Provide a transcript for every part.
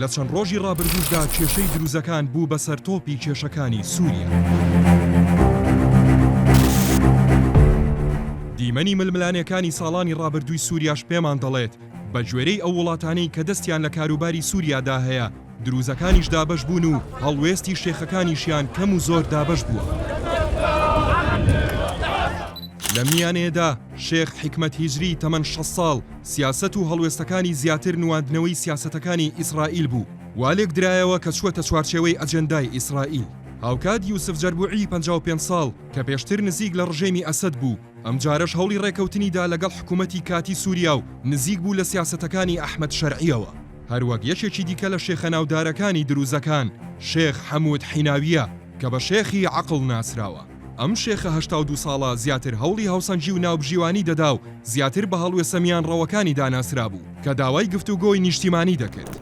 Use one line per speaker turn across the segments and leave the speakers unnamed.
لە چەند ڕۆژی ڕابردووشدا کێشەی دروزەکان بوو بە سەرتۆپی کێشەکانی سووریا. دیمەنی ململانێکانی ساڵانی ڕابردووی سووریاش پێمان دەڵێت بە گوێرەی ئەو وڵاتانەی کە دەستیان لە کاروباری سووریادا هەیە دروزەکانیش دابەش بوون و هەڵوێستی شێخەکانیشیان کەم و زۆر دابەش بووە. لەم میانەیەدا شێخ حکمەت هیجری تەمەن 6 ساڵ سیاسەت و هەڵوێستەکانی زیاتر نواندنەوەی سیاسەتەکانی ئیسرائیل بوو وا لێکدرایەوە کە چووەتە چوارچێوەی ئەجێندای ئیسرائیل. هاوکات یوسف جەربوعی پەنجا و پێنج ساڵ کە پێشتر نزیک لە ڕژێمی ئەسەد بوو، ئەمجارەش هەوڵی ڕێکەوتنی دا لەگەڵ حکوومەتی کاتی سووریا و نزیک بوو لە سیاسەتەکانی ئەحمەد شەرعییەوە. هەروەک یەکێکی دیکە لە شێخە ناودارەکانی دروزەکان، شێخ حەموود حیناوییە کە بە شێخی عەقڵ ناسراوە. ئەم شێخە هەشتا و دوو ساڵە زیاتر هەوڵی هاوسەنگی و ناوبژیوانی دەدا و زیاتر بە هەڵوێسە میانڕەوەکانیدا ناسرابوو کە داوای گفتوگۆی نیشتیمانی دەکرد.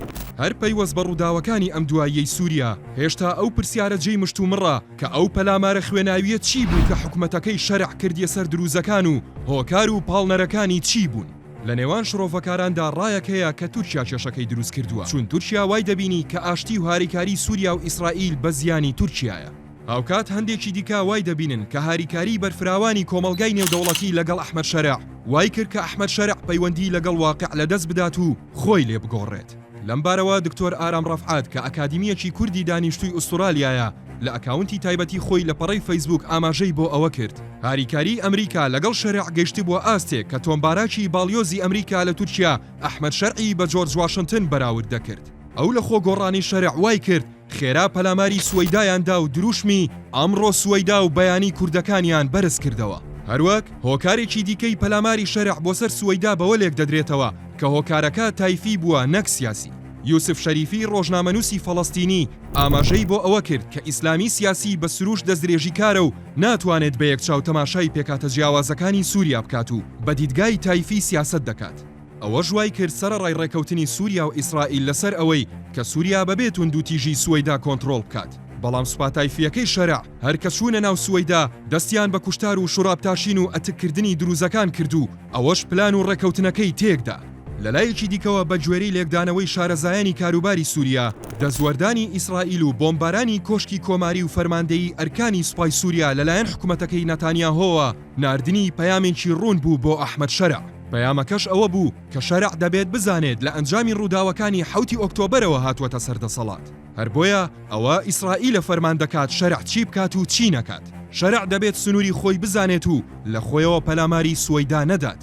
هەر پەیوەست بە ڕووداوەکانی ئەم دواییەی سووریا، هێشتا ئەو پرسیارە جێی مشتومڕە کە ئەو پەلامارە خوێناوییە چی بوو کە حکومەتەکەی شەرع کردیە سەر درووزەکان و هۆکار و پاڵنەرەکانی چی بوون؟ لە نێوان شڕۆڤەکاراندا ڕایەک هەیە کە تورکیا کێشەکەی درووست کردووە، چون تورکیا وای دەبینی کە ئاشتی و هاریکاریی سووریا و ئیسرائیل بە زیانی تورکیایە. هاوکات هەندێکی دیکە وای دەبینن کە هاریکاریی بەرفراوانی کۆمەڵگای نێودەوڵەتی لەگەڵ ئەحمەد شەرع وای کرد کە ئەحمەد شەرع پەیوەندیی لەگەڵ واقیع لەدەست بدات و خۆی لێ بگۆڕێت. لەم بارەوە دکتۆر ئارام ڕەفعەت کە ئەکادیمییەکی کوردی دانیشتووی ئوستورالیایە، لە ئەکاونتی تایبەتی خۆی لە پەڕەی فەیسبووک ئاماژەی بۆ ئەوە کرد، هاریکاریی ئەمریکا لەگەڵ شەرع گەیشتبووە ئاستێک کە تۆم باراکی باڵیۆزی ئەمریکا لە تورکیا ئەحمەد شەرعی بە جۆرج واشنتن بەراورد دەکرد. ئەو لە خۆ گۆڕانی شەرع وای کرد خێرا پەلاماری سوەیدایان دا و درووشمی، ئەمڕۆ سوەیدا، و بیانی کوردەکانیان بەرز کردەوە. هەروەک هۆکارێکی دیکەی پەلاماری شەرع بۆ سەر سوەیدا بەوە لێک دەدرێتەوە کە هۆکارەکە تایفی بووە نەک سیاسی. یوسف شەریفی ڕۆژنامەنووسی فەڵەستینی ئاماژەی بۆ ئەوە کرد کە ئیسلامی سیاسی بە سرووشت دەستدرێژیکارە و ناتوانێت بە یەک چاو تەماشای پێکهاتە جیاوازەکانی سووریا بکات و بە دیدگای تایفی سیاسەت دەکات. ئەوەش وایکرد سەرەڕای ڕێکەوتنی سوریا و ئیسرائیل لەسەر ئەوەی کە سوریا بەبێ توندوتیژی سوەیدا کۆنتڕۆڵ بکات، بەڵام سوپا تایفییەکەی شەرع هەر کە چوونە ناو سوەیدا دەستیان بە کوشتار و شڕابتاشین و ئەتککردنی دروزەکان کرد و ئەوەش پلان و ڕێکەوتنەکەی تێکدا. لەلایەکی دیکەوە بەگوێرەی لێکدانەوەی شارەزایانی کاروباری سوریا، دەستوەردانی ئیسرائیل و بۆمبارانی کۆشکی کۆماری و فەرماندەیی ئەرکانی سوپای سوریا لەلایەن حکومەتەکەی ناتانیاهۆوە، ناردنی پەیامێکی ڕوون بوو بۆ ئەحمەد شەرع، پەیامەکەش ئەوە بوو کە شەرع دەبێت بزانێت لە ئەنجامی ڕووداوەکانی حەوتی ئۆکتۆبەرەوە هاتووەتە سەر دەسەڵات، هەر بۆیە ئەوە ئیسرائیلە فەرمان دەکات شەرع چی بکات و چی نەکات، شەرع دەبێت سنووری خۆی بزانێت و لە خۆیەوە پەلاماری سوەیدا نەدات.